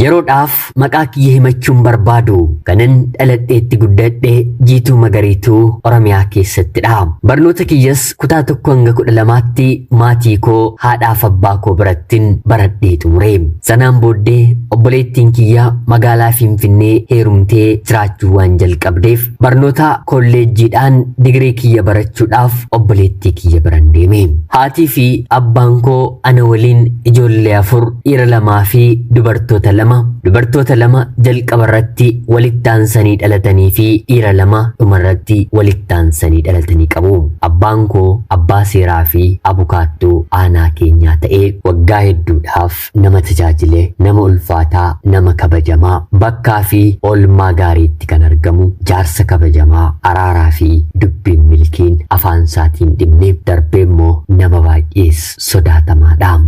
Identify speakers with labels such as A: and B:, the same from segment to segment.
A: Yeroodhaaf maqaa kiyya himachuun barbaadu kanan dhaladheetti guddadhe jiituu magariituu Oromiyaa keessattidha. Barnoota kiyyas kutaa tokko hanga kudha lamaatti maatii koo haadhaaf abbaa koo birattin baradhee xumure. Sanaan booddee obboleettiin kiyya magaalaa Finfinnee heerumtee jiraachuu waan jalqabdeef Barnoota kolleejjiidhaan digirii kiyya barachuudhaaf obboleettii kiyya biran deeme. Haatii fi abbaan koo ana waliin ijoollee afur dhiira lamaa fi dubartoota lama dubartoota lama jalqaba irratti walitti aansanii dhalatanii fi dhiira lama dhuma irratti walitti aansanii dhalatanii qabu. Abbaan koo abbaa seeraa fi abukaattuu aanaa keenyaa ta'ee waggaa hedduudhaaf nama tajaajile, nama ulfaataa, nama kabajamaa, bakkaa fi oolmaa gaariitti kan argamu, jaarsa kabajamaa, araaraa fi dubbiin milkiin afaan isaatiin dhimne, darbee immoo nama baay'ees sodaatamaadha.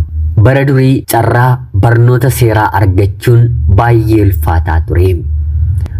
A: Bara durii carraa barnoota seeraa argachuun baay'ee ulfaataa ture.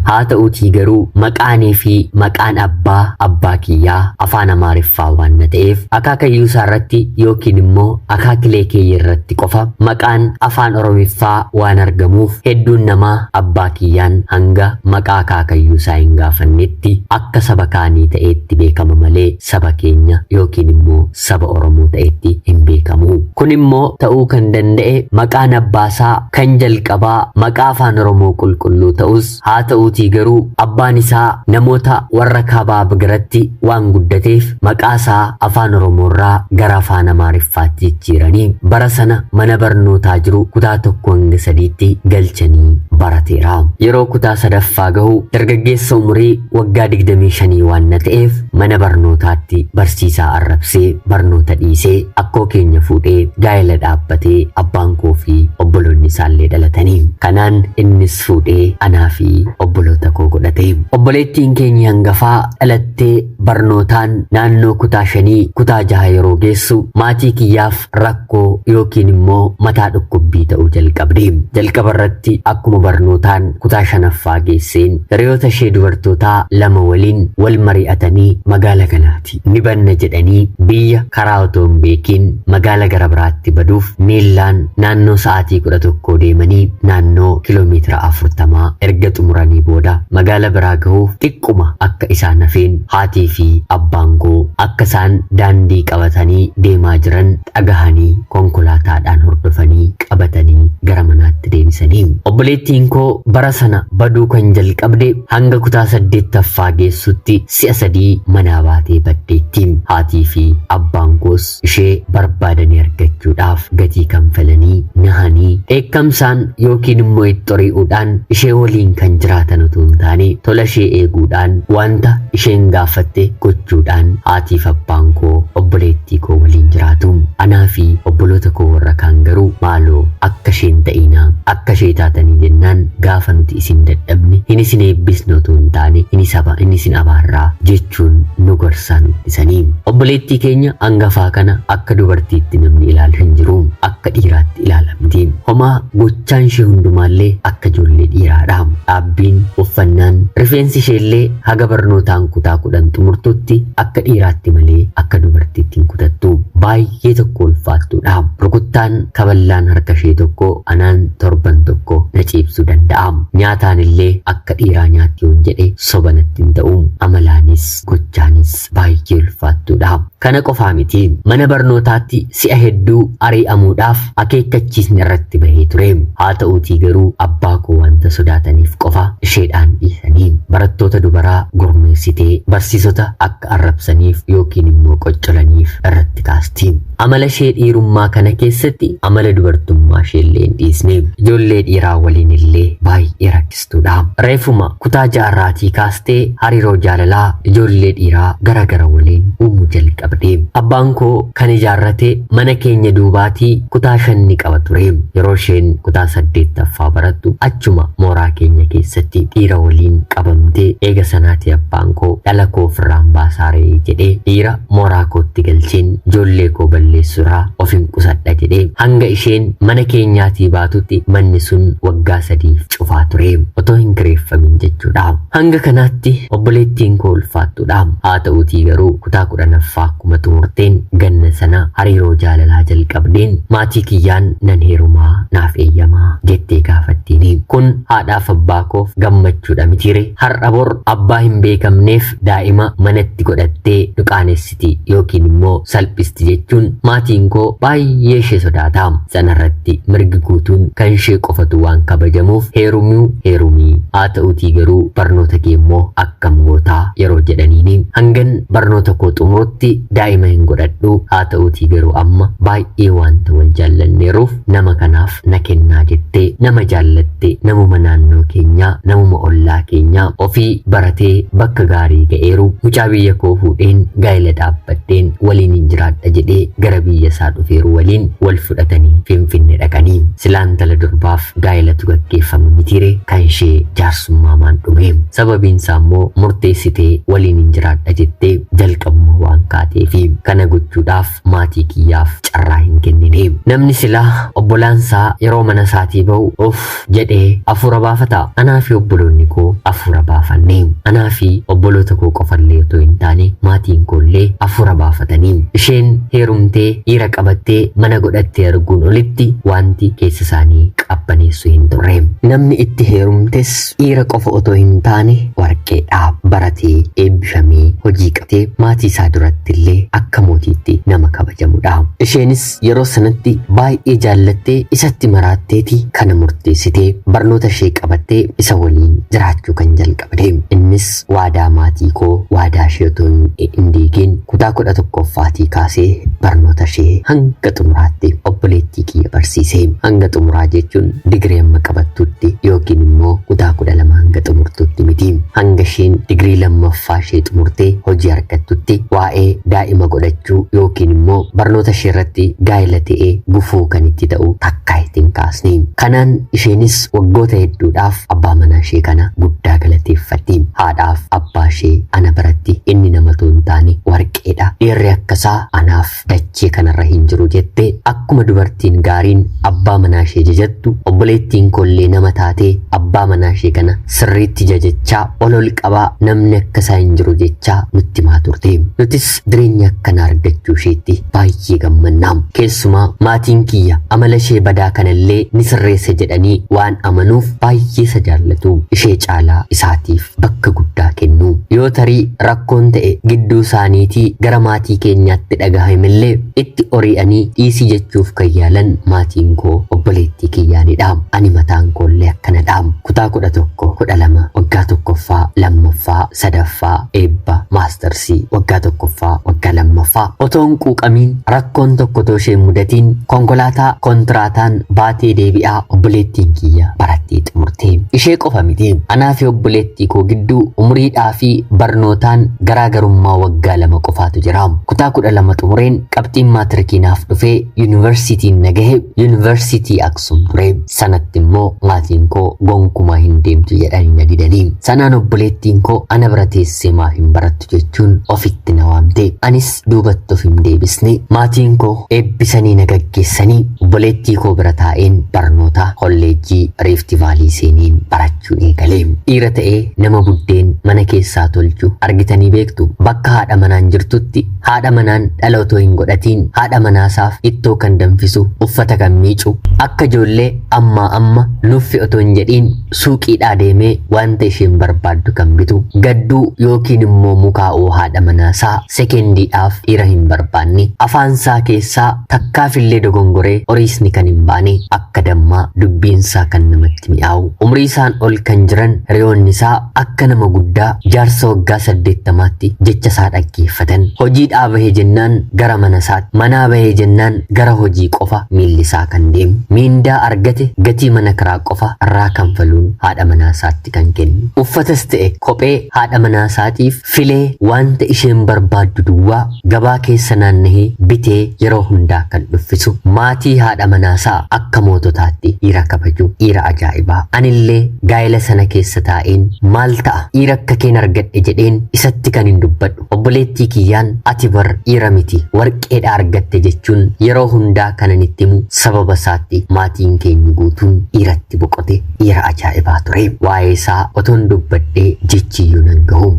A: Haa ta'uutii garuu maqaanii fi maqaan abbaa abbaa kiyyaa afaan Amaariffaa waan na ta'eef akaakayyuu isaa irratti yookiin immoo Akaakilee keeyya irratti qofa maqaan Afaan Oromiffaa waan argamuuf hedduun namaa abbaa kiyyaan hanga maqaa akaakayyuu isaa hin gaafannetti akka saba kaanii ta'eetti beekama malee saba keenya yookiin immoo saba Oromoo ta'eetti hin beekamu. Kun immoo ta'uu kan danda'e maqaan abbaa isaa kan jalqabaa maqaa Afaan Oromoo qulqulluu ta'us Haa ta'uutii garuu abbaan isaa namoota warra kaabaa bgiratti waan guddateef maqaa isaa Afaan Oromoorraa gara Afaan Amaariffaatti jijjiiranii bara sana mana barnootaa jiru kutaa tokko hanga sadiitti galchanii barateera. Yeroo kutaa sadaffaa gahu dargaggeessa umurii waggaa 25 waan na ta'eef mana barnootaatti barsiisaa arrabsee barnoota dhiisee akkoo keenya fuudhee gaa'ela dhaabbatee abbaan koo fi obboloonni isaallee dhalatanii. Kanaan innis fuudhee anaa fi obboloota koo godhate. Obboleettiin keenyi hangafaa dhalattee barnootaan naannoo kutaa shanii kutaa jaha yeroo geessu maatii kiyyaaf rakkoo yookiin immoo mataa dhukkubbii ta'uu jalqabde. Jalqaba irratti akkuma barnootaan kutaa shanaffaa geesseen hiriyoota ishee dubartootaa lama waliin wal mari'atanii magaala kana biraatti ni banna jedhanii biyya karaa otoo hin beekiin magaala gara biraatti baduuf miillaan naannoo sa'aatii 11 deemanii naannoo kiiloomeetira 40 erga xumuranii booda magaala biraa gahuuf xiqquma akka isaan hafeen haatii fi abbaan koo akka isaan daandii qabatanii deemaa jiran dhagahanii konkolaataadhaan hordofanii qabatanii gara manaatti deebisanii. Obboleettiin koo bara sana baduu kan jalqabde hanga kutaa saddeettaffaa geessutti Si'a sadii manaa baatee baddeetti. Haatii fi abbaan koos ishee barbaadanii argachuudhaaf gatii kanfalanii, nahanii, dheekkamsaan yookiin immoo itt'orii'uudhaan ishee waliin kan jiraatan utuu hin taane tola ishee eeguudhaan, wanta isheen gaafatte gochuudhaan haatii fi abbaan koo obboleettii koo waliin jiraatu. Anaa fi obboloota koo warra kaan garuu maaloo akka ishee hin ta'iinaa, akka ishee taatanii jennaan gaafa nuti isin dadhabne hin isin eebbisne otoo hin taane hin isaba hin isin abaarraa jechuun nu gorsaa nu dhisanii. Obboleettii keenya angafaa kana akka dubartiitti namni ilaalu hin jiru. Akka dhiiraatti ilaalamti. Homaa gochaan ishee hundumaallee akka ijoollee dhiiraadha. Dhaabbiin, uffannaan, rifeensi isheellee haga barnootaan kutaa kudhan xumurtutti akka dhiiraatti malee akka dubartiitti hin kutattu. Baay'ee Ishee tokko ulfaattuu dha. Rukuttaan kaballaan harka ishee tokko anaan torban tokko na ciibsuu danda'a. Nyaataan illee akka dhiiraa nyaatti yoon jedhe soba natti hin ta'u. Amalaanis gochaanis baay'ee ulfaattuu dha. Kana qofaa miti. Mana barnootaatti si'a hedduu arii'amuudhaaf akeekkachiisni irratti bahee ture. Haa ta'uutii garuu abbaa koo wanta sodaataniif qofa isheedhaan dhiisanii. Barattoota dubaraa gurmeessitee barsiisota akka akka arrabsaniif yookiin immoo qoccolaniif irratti kaasti. Amala ishee dhiirummaa kana keessatti amala dubartummaa ishee illee hin dhiisne. Ijoollee dhiiraa waliin illee baay'ee rakkistuudha. Reefuma kutaa jaarraatii kaastee hariiroo jaalalaa ijoollee dhiiraa gara gara waliin uumuu jalqabde. Abbaan koo kan ijaarrate Mana keenya duubaatii kutaa shan ni qaba ture. Yeroo isheen kutaa saddeettaffaa barattu achuma mooraa keenya keessatti dhiira waliin qabamte. Eega sanaatii abbaan koo dhala koo ofirraan baasaa ree jedhee dhiira mooraa kootti galcheen ijoollee koo balleessuurraa ofin qusadha jedhe. Hanga isheen mana keenyaatii baatutti manni sun waggaa sadiif. cufaa ture otoo hin kireeffamin jechuudha. Hanga kanaatti obboleettiin koo ulfaattuudha. Haa ta'uutii garuu kutaa kudhanaffaa akkuma xumurteen ganna sana hariiroo jaalalaa jalqabdeen maatii kiyyaan nan heerumaa naaf eeyyamaa jettee gaafattiini. Kun haadhaaf abbaa koof gammachuudha mitiire har'a bor abbaa hin beekamneef daa'ima manatti godhattee nu qaanessite. salphifti yookiin immoo salphisti jechuun maatiin koo baay'ee ishee sodaata. Sanarratti mirgi guutuun kan ishee qofatu waan kabajamuuf heerumuu heerumii haa ta'utii garuu barnoota kee immoo akkam gootaa yeroo jedhaniini hangan barnoota koo xumurutti daa'ima hin godhadhu haa ta'utii garuu amma baay'ee wanta wal jaallanneeruuf nama kanaaf na kennaa jettee nama jaallatte namuma naannoo keenyaa namuma ollaa keenyaa ofii baratee bakka gaarii ga'eeru mucaa biyya koo fuudheen gaa'ela dhaabbadheen waliin hin jiraadha jedhee gara biyya isaa dhufeeru waliin wal fudhatanii finfinne dhaqanii silaa intala durbaaf gaa'elatu gaggeeffama mitiire kan ishee jaarsummaan dhume sababiin isaa immoo murteessitee waliin hin jiraadha jettee jalqabuma waan kaateefi kana gochuudhaaf maatii kiyyaaf carraa hin kennine. Namni silaa obbolaan isaa yeroo mana isaatii ba'u of jedhee afuura baafata. Anaa fi obboloonni koo afuura baafanne. Anaa fi obboloota koo qofallee otoo hin taane maatiin koollee afuura baafatanii. Isheen heerumtee dhiira qabattee mana godhattee arguun olitti wanti keessa isaanii qabbaneessu hin turre. Namni itti heerumtes Dhiira qofa otoo hin taane warqee dha. Baratee, eebbifamee, hojii qabtee maatii isaa duratti illee akka mootiitti nama kabajamu dha. Isheenis yeroo sanatti baay'ee jaallattee isatti maraatteeti kana murteessite. Barnoota ishee qabattee isa waliin jiraachuu kan jalqabde. Innis Waadaa maatii koo waadaa ishee otoo hin hin diigiin kutaa kudha tokkooffaatii kaasee barnoota ishee hanga xumuraatti obboleettii kiyya barsiise. Hanga xumuraa jechuun digirii amma qabattutti yookiin immoo kutaa kudha lama hanga xumurtutti miti. Hanga isheen digirii lammaffaa ishee xumurtee hojii argattutti waa'ee daa'ima godhachuu yookiin immoo barnoota ishee irratti gaa'ela ta'ee gufuu kan itti ta'u takkaa itti hin kaasne. Kanaan isheenis waggoota hedduudhaaf Abbaa manaa ishee kana guddaa galateeffatti. Haadhaaf abbaa ishee ana biratti inni nama utuu hin taane warqeedha. Dhiirri akka isaa anaaf dachee kanarra hin jiru jette. Akkuma dubartiin gaariin abbaa manaa ishee jajattu obboleettiin koollee nama taatee abbaa manaa ishee kana sirriitti jajachaa ol ol qabaa namni akka isaa hin jiru jechaa nutti himaa turte. Nutis jireenya akkanaa argachuu isheetti baay'ee gammanna. Keessumaa maatiin kiyya amala ishee badaa kanallee ni sirreessa jedhanii waan amanuuf baay'ee isa jaallatu. Ishee caalaa isaatiif bakka guddaa kennu. Yoo tarii rakkoon ta'e gidduu isaaniitii gara maatii keenyaatti dhagahamillee itti ori'anii dhiisii jechuuf kan yaalan maatiin koo obboleettii kiyyaanidha. Ani mataan koollee akkanadha. Kutaa kudha tokko kudha lama waggaa tokkoffaa lammaffaa sadaffaa, eebba, maastarsii, waggaa tokkoffaa, waggaa lammaffaa otoo hin quuqamiin rakkoon tokko otoo ishee hin mudatiin konkolaataa kontiraataan baatee deebi'aa obboleettiin kiyya barattee xumurte. Ishee qofa miti. Anaa fi obboleettii koo gidduu umuriidhaa fi barnootaan garaagarummaa waggaa lama qofaatu jira. Kutaa kudha lama xumureen qabxiin maatirikii naaf dhufee yuunivarsiitiin na gahe yuunivarsiitii sun ture. Sanatti immoo maatiin koo gonkumaa hin deemtu jedhanii na didanii. Sanaan obboleettiin koo ana bira teessee maaf hin barattu jechuun ofitti na waamte. Anis duubatti of hin deebisne. Maatiin koo eebbisanii na gaggeessanii obboleettii koo bira taa'een barnoota kolleejjii Riifti Vaalii seeneen barachuun eegale. Dhiira ta'ee nama buddeen mana keessaa tolchu argitanii beektu bakka haadha manaan jirtutti Haadha manaan dhala otoo hin godhatiin haadha manaasaaf ittoo kan danfisu, uffata kan miicu, akka ijoollee ammaa amma nuffi otoo hin jedhiin suuqiidhaa deemee wanta isheen barbaaddu kan bitu, gadduu yookiin immoo mukaa'uu haadha manaasaa sekendiidhaaf dhiira hin barbaanne, afaansaa keessaa takkaafillee dogongoree oriisni kan hin baane akka dammaa dubbiinsaa kan namatti mi'aawu umriisaan ol kan jiran hiriyoonnisaa akka nama guddaa jaarsa waggaa saddeettamaatti jechasaa dhaggeeffatan hojiidhaa bahe jennaan gara manasaatti manaa bahe jennaan gara hojii qofa miillisaa kan deemu miindaa argate gatii mana kiraa qofa irraa kanfaluun haadha manaasaatti kan kennu uffatas ta'e kophee haadha manaasaatiif Filee waanta isheen barbaaddu duwwaa gabaa keessa naannahee bitee yeroo hundaa kan dhuffisu, maatii haadha manaasaa akka moototaatti dhiira kabaju, dhiira ajaa'ibaa. Anillee gaa'ela sana keessa taa'een maal ta'a dhiira akka keen argadhe jedheen isatti kanin dubbadhu. Obboleettii kiyyaan ati bar dhiira miti warqeedha argatte jechuun yeroo hundaa kanan itti himu sababa isaatti maatiin keenya guutuun dhiiratti boqote. Dhiira ajaa'ibaa ture. Waa'ee isaa otoon dubbadhee jechiyyuu nan gahu.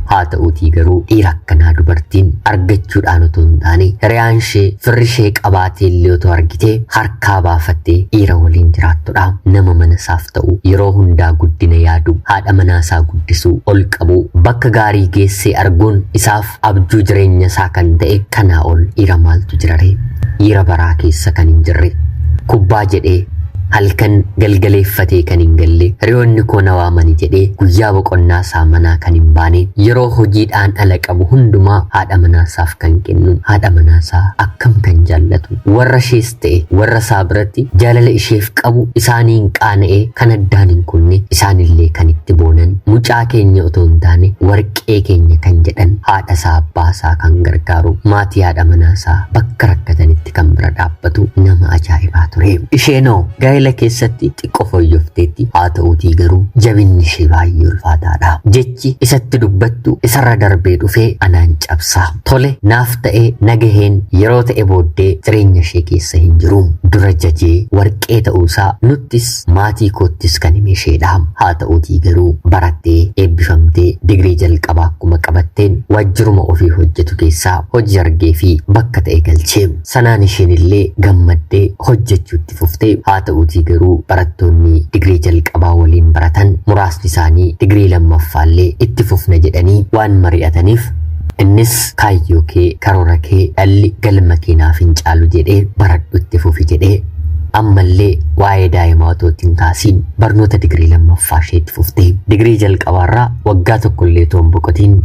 A: Haa ta'uutii garuu dhiira akkanaa dubartiin argachuudhaan otoo hin taane hiriyaan ishee firri ishee qabaatee illee otoo argite harkaa baafattee dhiira waliin jiraattudha. Nama mana isaaf ta'u yeroo hundaa guddina yaadu haadha manaa isaa guddisuu ol qabu bakka gaarii geessee arguun isaaf abjuu jireenya isaa kan ta'e kanaa ol dhiira maaltu jiraree dhiira baraa keessa kan hin jirre kubbaa jedhee halkan galgaleeffatee kan hin galle hiriyoonni koo na waamani jedhee guyyaa boqonnaa isaa manaa kan hin baane yeroo hojiidhaan ala qabu hundumaa haadha manaasaaf kan kennu haadha manaasaa akkam kan jaallatu warra ishees ta'e warra isaa biratti jaalala isheef qabu isaaniin qaana'ee kan addaan hin kunne isaanillee kan itti boonan mucaa keenya otoo hin taane warqee keenya kan jedhan haadha isaa abbaa isaa kan gargaaru maatii haadha manaa isaa bakka rakkatanitti kan bira dhaabbatu nama ajaa'ibaa ture. Isheenoo gaa'ela keessatti xiqqoo fooyyofteetti haa ta'uutii garuu jabinni ishee baay'ee ulfaataadha. jechi isatti dubbattu isarra darbee dhufee anaan cabsaa. Tole naaf ta'ee nagaheen yeroo ta'e booddee jireenya ishee keessa hin jiru. Dura jajee warqee ta'uu isaa nuttis maatii koottis kan hime isheedha. Haa ta'uutii garuu barattee eebbifamtee digirii jalqabaa akkuma qabatteen waajjiruma ofii hojjetu keessaa hojii argee fi bakka ta'e galchee. Sanaan isheen illee gammaddee hojjechuutti itti fufte. Haata'uutii garuu barattoonni digirii jalqabaa waliin baratan muraasni isaanii digirii lammaffaallee itti fufna jedhanii waan mari'ataniif innis kaayyoo kee karoora kee dhalli galma kee naaf hin caalu jedhee baradhu itti fufi jedhee ammallee waa'ee daa'imaa otoo itti hin kaasiin barnoota digirii lammaffaa ishee itti fufte. Digirii jalqabaarraa waggaa tokkollee otoo hin boqotiin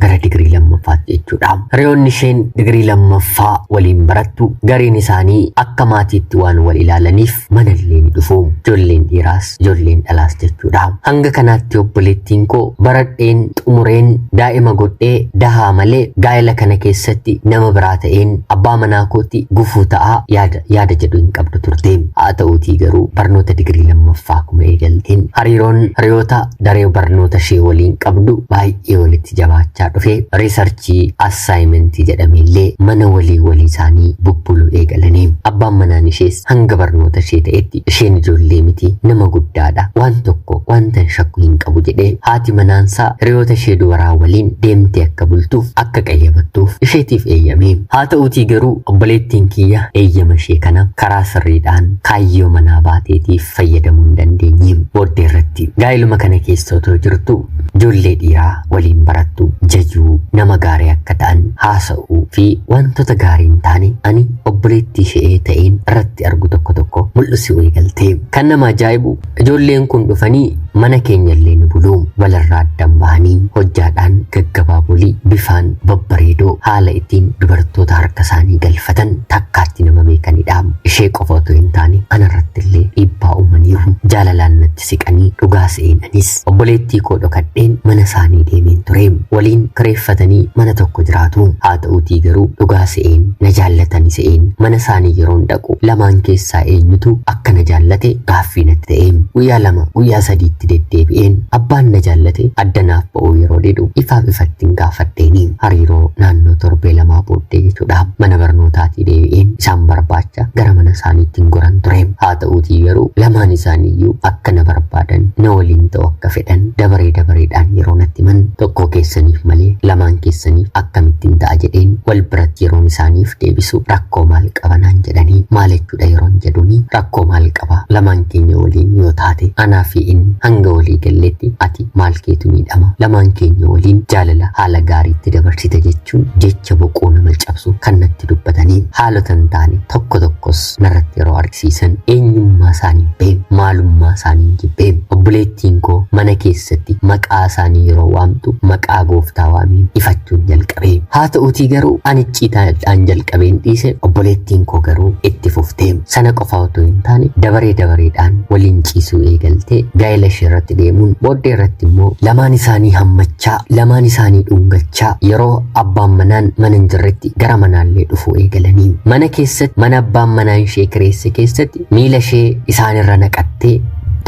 A: gara digirii lammaffaatti jechuudha. Hiriyoonni isheen digirii lammaffaa waliin barattu gariin isaanii akka maatiitti waan wal ilaalaniif manallee ni dhufu. Ijoolleen dhiiraas ijoolleen dhalaas jechuudha. Hanga kanaatti obboleettiin koo baradheen xumureen daa'ima godhee dahaa malee gaa'ela kana keessatti nama biraa ta'een abbaa manaa kootti gufuu ta'a yaada yaada jedhu hin qabdu turte. Haa ta'uutii garuu barnoota digirii lammaffaa akkuma eegalteen hariiroon hiriyoota daree barnoota ishee waliin qabdu baay'ee walitti itti jabaachaa dhufe riisarchii assaayimentii jedhameellee mana walii walii isaanii bubbuluu eegalanii abbaan manaan ishees hanga barnoota ishee ta'etti isheen ijoollee miti nama guddaadha waan tokko wantan shakku hin qabu jedhee haati manaansaa hiriyoota ishee dubaraa waliin deemtee akka bultuuf akka qayyabattuuf isheetiif eeyyame haa ta'uutii garuu obboleettiin kiyya eeyyama ishee kana karaa sirriidhaan kaayyoo manaa baateetiif fayyadamuu hin dandeenye. Booddee irratti gaa'iluma kana keessa otoo jirtuu ijoollee dhiiraa waliin barattu jajuu, nama gaarii akka ta'an haasa'uu fi wantoota gaarii hin taane ani obboleettii ishee ta'een irratti argu tokko tokko mul'isuu eegalte. Kan nama ajaa'ibu ijoolleen kun dhufanii Mana keenyallee nu buluu walirraa addan bahanii hojjaadhaan gaggabaabolii bifaan babbareedoo haala ittiin dubartoota harkasaanii galfatan takkaatti nama beekanidha. Ishee qofa otoo hin taane anarrattillee dhiibbaa uumaniiru. Jaalalaan natti siqanii dhugaa se'een anis. Obboleettii koo dhokadheen mana isaanii deemeen ture. Waliin kireeffatanii mana tokko jiraatu. Haa ta'uutii garuu dhugaa se'een na jaallatani se'een mana isaanii yeroon dhaqu Lamaan keessaa eenyutu akka na jaallate gaaffii natti ta'e. Guyyaa lama, guyyaa sadii itti deddeebi'een abbaan na jaallate adda naaf ba'uu yeroo didu ifaaf ifattin gaafadheeni. Hariiroo naannoo torbee lamaa booddee jechuudha. Mana barnootaatii deebi'een isaan barbaacha gara mana isaaniittin goran ture. Haa ta'uutii garuu lamaan isaaniiyyuu akka na barbaadan, na waliin ta'uu akka fedhan dabaree dabareedhaan yeroo natti himan tokkoo keessaniif malee lamaan keessaniif akkamittin ta'a jedheen wal biratti yeroon isaaniif deebisu rakkoo maal qaba naan jedhanii maal jechuudha yeroon jedhuni rakkoo maal qaba lamaan keenya waliin yoo taate anaa fi inni hanga walii galletti ati maal keetu miidhama lamaan keenya waliin jaalala haala gaariitti dabarsita jechuun jecha boqoo nama cabsu kan natti dubbatanii haalota hin taane tokko tokkos narratti yeroo argisiisan eenyummaa isaanii beem maalummaa isaanii jibbeem obboleettiin koo mana keessatti maqaa isaanii yeroo waamtu maqaa gooftaa waamiin ifachuun jalqabe. qabe. Haa ta'uutii garuu an icciitaadhaan jalqabeen dhiise obboleettiin koo garuu itti fufte. Sana qofa otoo hin taane dabaree dabareedhaan waliin ciisuu eegalte gaa'ela ishee irratti deemuun booddee irratti immoo lamaan isaanii hammachaa lamaan isaanii dhungachaa yeroo abbaan manaan mana hin jirretti gara manaallee dhufuu eegalanii. Mana keessatti mana abbaan manaa ishee kireesse keessatti miila ishee isaanirra naqattee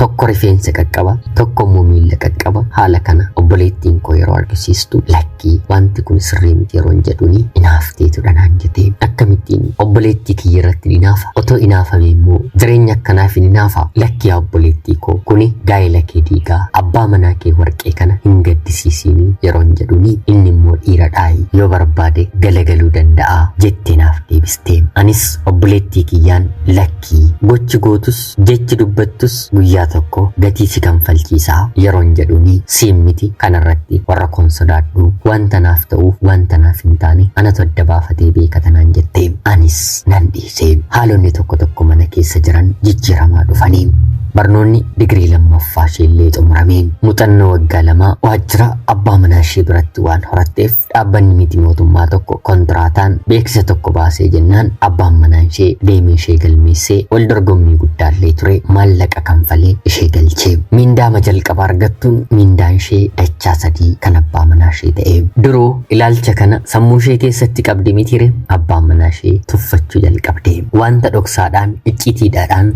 A: tokko rifeensa qaqqaba tokko immoo miila qaqqaba haala kana obboleettiin koo yeroo argisiistu lakki. Ati wanti kun sirrii miti yeroon jedhuni inaafteetu dhanaan jetee akkamittiin obboleettii kiyya irratti inaafa otoo inaafame immoo jireenya akkanaaf hin inaafa lakki yaa obboleettii koo kuni gaa'ela kee diigaa abbaa manaa kee warqee kana hin gaddisiisiini yeroon jedhuni inni immoo dhiira dhaayi yoo barbaade galagaluu danda'a jettee naaf deebiste anis obboleettii kiyyaan lakkii gochi gootus Jechi dubbattus guyyaa tokko gatii si kanfalchiisa yeroon jedhuni siin miti kanarratti warra koon sodaadhu wanta naaf ta'uuf wanta naaf hin taane anatu adda baafatee beekata naan jette anis nan dhiise haalonni tokko tokko mana keessa jiran jijjiiramaa dhufani barnoonni digirii lammaffaa isheellee xumurame muxannoo waggaa lama waajjira abbaa manaa ishee biratti waan horatteef Dhaabbanni miti mootummaa tokko kontiraataan beeksisa tokko baasee jennaan abbaan manaan ishee deemee ishee galmeessee wal dorgommii guddaallee ture maallaqa kanfalee ishee galchee. Miindaama jalqaba argattuun miindaan ishee dachaa sadii kan abbaa manaa ishee ta'e. Duruu ilaalcha kana sammuu ishee keessatti qabdi mitire abbaan manaa ishee tuffachuu jalqabde. Wanta dhoksaadhaan, icciitiidhaadhaan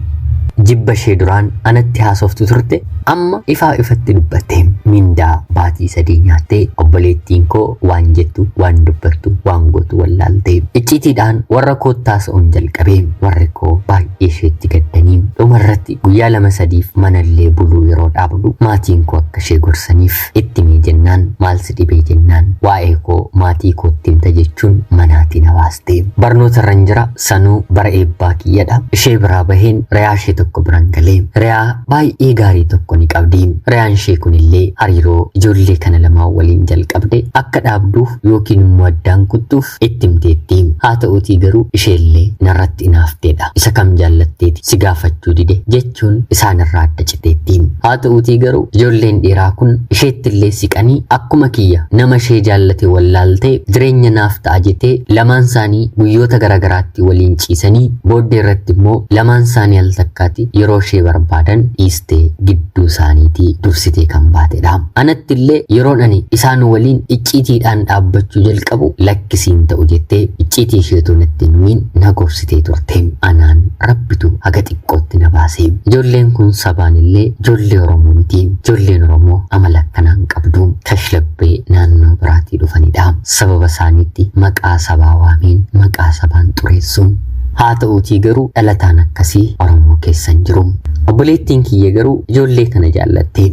A: jibba ishee duraan anatti haasoftu turte Amma ifaa ifatti dubbatte mindaa baatii sadii nyaatte obboleettiin koo waan jettu waan dubbattu waan gootu wallaalte icciitiidhaan warra kootti haasa'uun jalqabe warri koo baay'ee isheetti gaddanii dhuma irratti guyyaa lama sadiif manallee buluu yeroo dhaabdu maatiin koo akka ishee gorsaniif itti mee jennaan maal si dhibee jennaan waa'ee koo maatii kootti himta jechuun manaatii na baaste. Barnoota irran jira sanuu bara eebbaa kiyyadha. Ishee biraa baheen reyaa ishee tokko biran galee. Reyaa baay'ee gaarii tokko ni qabdi. Reyaan ishee kunillee hariiroo ijoollee kana lamaan waliin jalqabde akka dhaabduuf yookiin immoo addaan kuttuuf itti himteetti. Haa ta'uutii garuu isheellee narratti inaafteedha. Isa kam jaallatteeti si gaafachuu dide jecha jechuun isaanirraa adda citeetti. Haa ta'uutii garuu ijoolleen dhiiraa kun isheettillee siqanii akkuma kiyya nama ishee jaallate wallaaltee jireenya naaf ta'a jetee lamaan isaanii guyyoota garaagaraatti waliin ciisanii booddee irratti immoo lamaan isaanii al takkaati yeroo ishee barbaadan dhiistee gidduu isaaniitii dursitee kan baatedha. Anattillee yeroon ani isaan waliin icciitiidhaan dhaabbachuu jalqabu lakkisiin ta'u jettee icciitii isheetu natti hin himin na gorsitee turte. Anaan rabbitu haga Qotti na baase. Ijoolleen kun sabaan illee ijoollee Oromoo miti. Ijoolleen Oromoo amala akkanaa hin qabdu. Kashlabbee naannoo biraatii dhufanidha. Sababa isaaniitti maqaa sabaa waameen maqaa sabaan xureessu. Haa ta'uutii garuu dhalataan akkasii Oromoo keessa hin jiru. Obboleettiin kiyya garuu ijoollee kana jaallatte.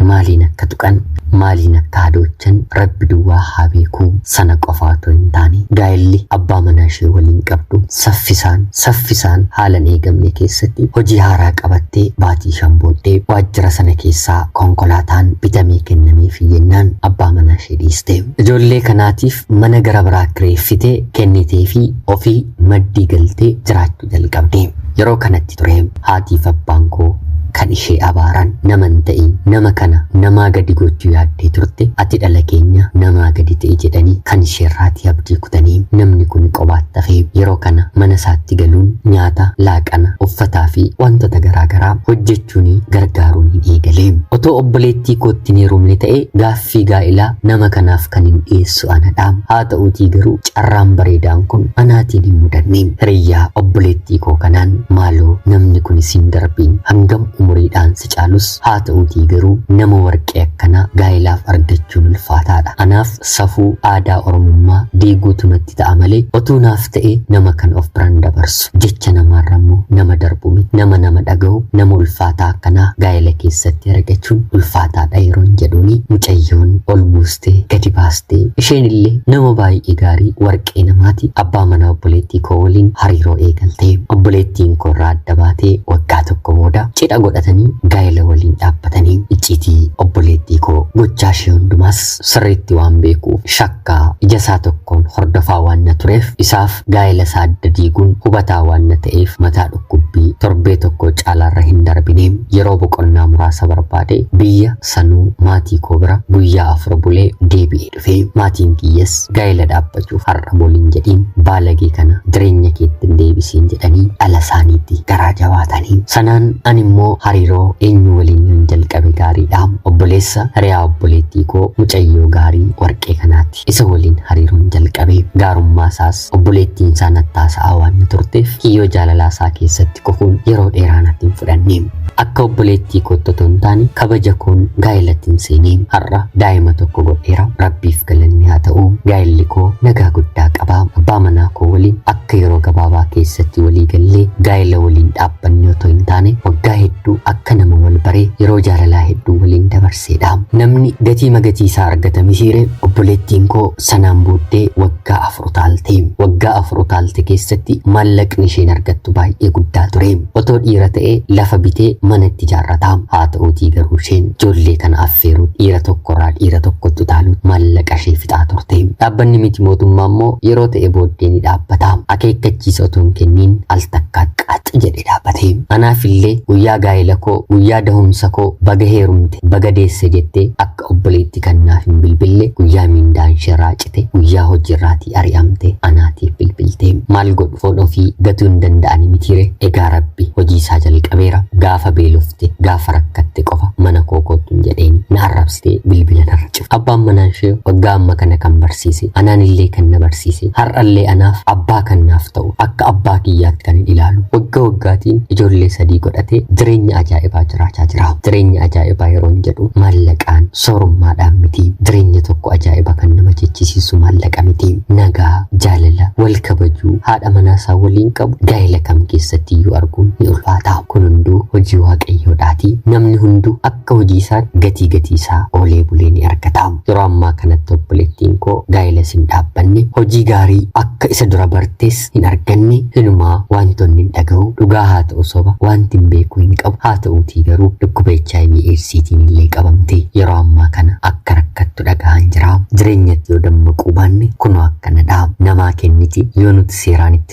A: Maaliin akka tuqan, maaliin akka hadoochan Rabbi duwwaa haa beeku. Sana qofa otoo hin taane gaa'elli abbaa manaa ishee waliin qabdu saffisaan saffisaan haala hin eegamne keessatti hojii haaraa qabattee baatii shan booddee waajjira sana keessaa konkolaataan bitamee kennameefi jennaan abbaa manaa ishee dhiiste. Ijoollee kanaatiif mana gara biraa kireeffite kenniteefi ofii maddii galtee jiraachuu jalqabde. Yeroo kanatti ture Haatiif abbaan koo kan ishee abaaran nama hin ta'in nama kana namaa gadi gochuu yaaddee turte ati dhala keenya namaa gadi ta'i jedhanii kan isheerraatii abdii kutanii namni kuni qobaatti hafee yeroo kana mana isaatti galuun nyaata, laaqana, uffataa fi wantota garaa garaa hojjechuunii gargaaruuniin eegale. Otoo obboleettii kootti hin heerumne ta'ee gaaffii Gaaffii gaa'ilaa nama kanaaf kanin dhiyeessu anadha. Haata'uutii garuu carraan bareedaan kun anaatiin hin mudanne. Hiriyyaa obboleettii koo kanaan maaloo namni kuni siin darbi. Hangam umuriidhaan si caalus haata'uutii garuu nama warqee akkanaa gaa'ilaaf argachuun ulfaataadha. Anaaf safuu aadaa Oromummaa diiguutu natti itti ta'a malee otuu naaf ta'e nama kan of biran dabarsu jecha namaarra immoo nama darbu miti nama nama dhaga'u nama ulfaataa akkanaa gaa'ela keessatti argachuun ulfaataadha yeroon jedhuuni mucayyoon ol buustee gadi baastee isheen illee nama baay'ee gaarii warqee namaati abbaa manaa obboleettii koo waliin hariiroo eegaltee obboleettiin koo irraa adda baatee waggaa tokko booda cidha godhatanii gaa'ela waliin dhaabbatanii icciitii obboleettii koo gochaa ishee hundumaas sirriitti waan beekuuf shakka akka ija isaa tokkoon hordofaa waan na tureef isaaf gaa'ela isaa adda diiguun hubataa waan na ta'eef mataa dhukkubbii torbee tokkoo caalaarra hin darbine. Yeroo boqonnaa muraasa barbaadee biyya sanuu maatii koo bira guyyaa afur bulee deebi'ee dhufe. Maatiin kiyyas gaa'ela dhaabbachuuf har'a boliin jedhiin baalagee kana jireenya keetti hin deebisiin jedhanii dhala isaaniitti garaa jabaatanii. Sanaan ani immoo hariiroo eenyu waliin yoon jalqabe gaariidha. Obboleessa hiriyaa obboleettii koo mucayyoo gaarii Warqee kanaati. Isa waliin hariiroon jalqabe. Gaarummaa isaas obboleettiin isaa natti haasa'aa waan na turteef kiyyoo jaalalaa isaa keessatti kufuun yeroo dheeraa natti hin fudhanne. Akka obboleettii kootti otoo hin taane kabaja koon gaa'elattin seene. Har'a daa'ima tokko godheera. Rabbiif galanni haa ta'u. Gaa'elli koo nagaa guddaa qaba. Abbaa manaa koo waliin akka Akka yeroo gabaabaa keessatti walii gallee gaa'ela waliin dhaabbanne otoo hin taane waggaa hedduu akka nama wal baree yeroo jaalalaa hedduu waliin dabarseedha. Namni gatii magatii isaa argata misiire obboleettiin koo sanaan booddee waggaa afur utaalte. Waggaa afur utaalte keessatti maallaqni isheen argattu baay'ee guddaa ture. Otoo dhiira ta'ee lafa bitee mana itti ijaarrata. Haata'uutii garuu isheen ijoollee kana affeeruun dhiira tokkorraa dhiira tokkotti utaaluun maallaqashee fixaa turte. Dhaabbanni miti mootummaa immoo yeroo ta'e booddee ni dhaabbata. Akeekkachiisa otoo hin kenniin al takkaa qax jedhee dhaabbate. Anaafillee guyyaa gaa'elakoo, guyyaa dahumsakoo baga heerumte, baga deesse jettee akka Obboleetti kan naaf hin bilbille guyyaa miindaanshirraa cite guyyaa hojiirraatii ari'amte anaatiif bilbiltee maal godhu foon ofii gatuu hin danda'ani mitiire egaa rabbi hojiisaa jalqabeera gaafa beelofte gaafa rakkatte qofa mana koo koottuun jedheeni na arrabsitee bilbila narra cufte abbaan manaanshee waggaa amma kana kan barsiise anaanillee kan na barsiise har'allee anaaf abbaa kan naaf ta'u Akka abbaa kiyyaatti kanin ilaalu wagga waggaatiin ijoollee sadii godhatee jireenya ajaa'ibaa jiraachaa jira. Jireenya ajaa'ibaa yeroon jedhu maallaqaan soorummaadhaan miti. Jireenya tokko ajaa'iba kan nama jechisiisu maallaqa miti. Nagaa, jaalala, wal kabajuu, haadha manaa isaa waliin qabu gaa'ela kam keessatti iyyuu arguun ni ulfaata. Kun hunduu hojii waaqayyoodhaati. Namni hunduu akka Akka hojii isaan gatii gatii isaa oolee bulee ni argataam. Yeroo ammaa kanatti obboleettiin koo gaa'ilas hin dhaabbanne, hojii gaarii akka isa dura bartes hin arganne, hinumaa waantonni hin dhaga'u, dhugaa haa ta'u soba waantin beeku hin qabu, haa ta'uutii garuu dhukkuba hiv eedsiitiin illee qabamtee yeroo ammaa kana akka rakkattu dhagahaan jiraam. Jireenyatti yoo dammaquu baanne kunoo akkanadhaam. Namaa kenniti yoo nuti seeraan itti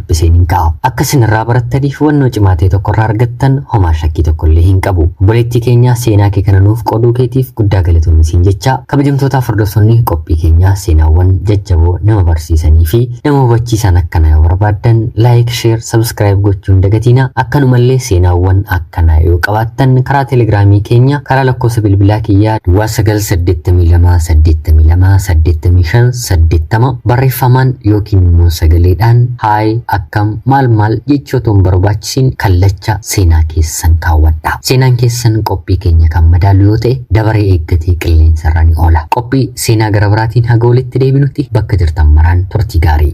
A: isiniin ka'a. Akka isin irraa barattaniif hubannoo cimaa ta'e tokko irraa argattan homaa shakkii tokko illee hin qabu. Obboleettii keenya seenaa kee kana nuuf qooduu keetiif guddaa galatoomi siin jecha kabajamtootaaf hordoftoonni qophii keenyaa seenaawwan jajjaboo nama barsiisanii fi nama hubachiisan akkana yoo barbaaddan laayik, sheer, sabskiraayib gochuun dagatiina akkanumallee seenaawwan akka Kana yoo qabaattan karaa telegiraamii keenya karaa lakkoofsa bilbilaa kiyyaa duwwaa 982828580 barreeffamaan yookiin immoo sagaleedhaan haay akkam maal maal jechoota hin barbaachisiin kallacha seenaa keessan kaawwadha. Seenaan keessan qophii keenya kan madaalu yoo ta'e dabaree eeggatee qilleensa irra ni oola. Qophii Seenaa gara biraatiin haga walitti deebinutti bakka jirtan maraan turtii gaarii.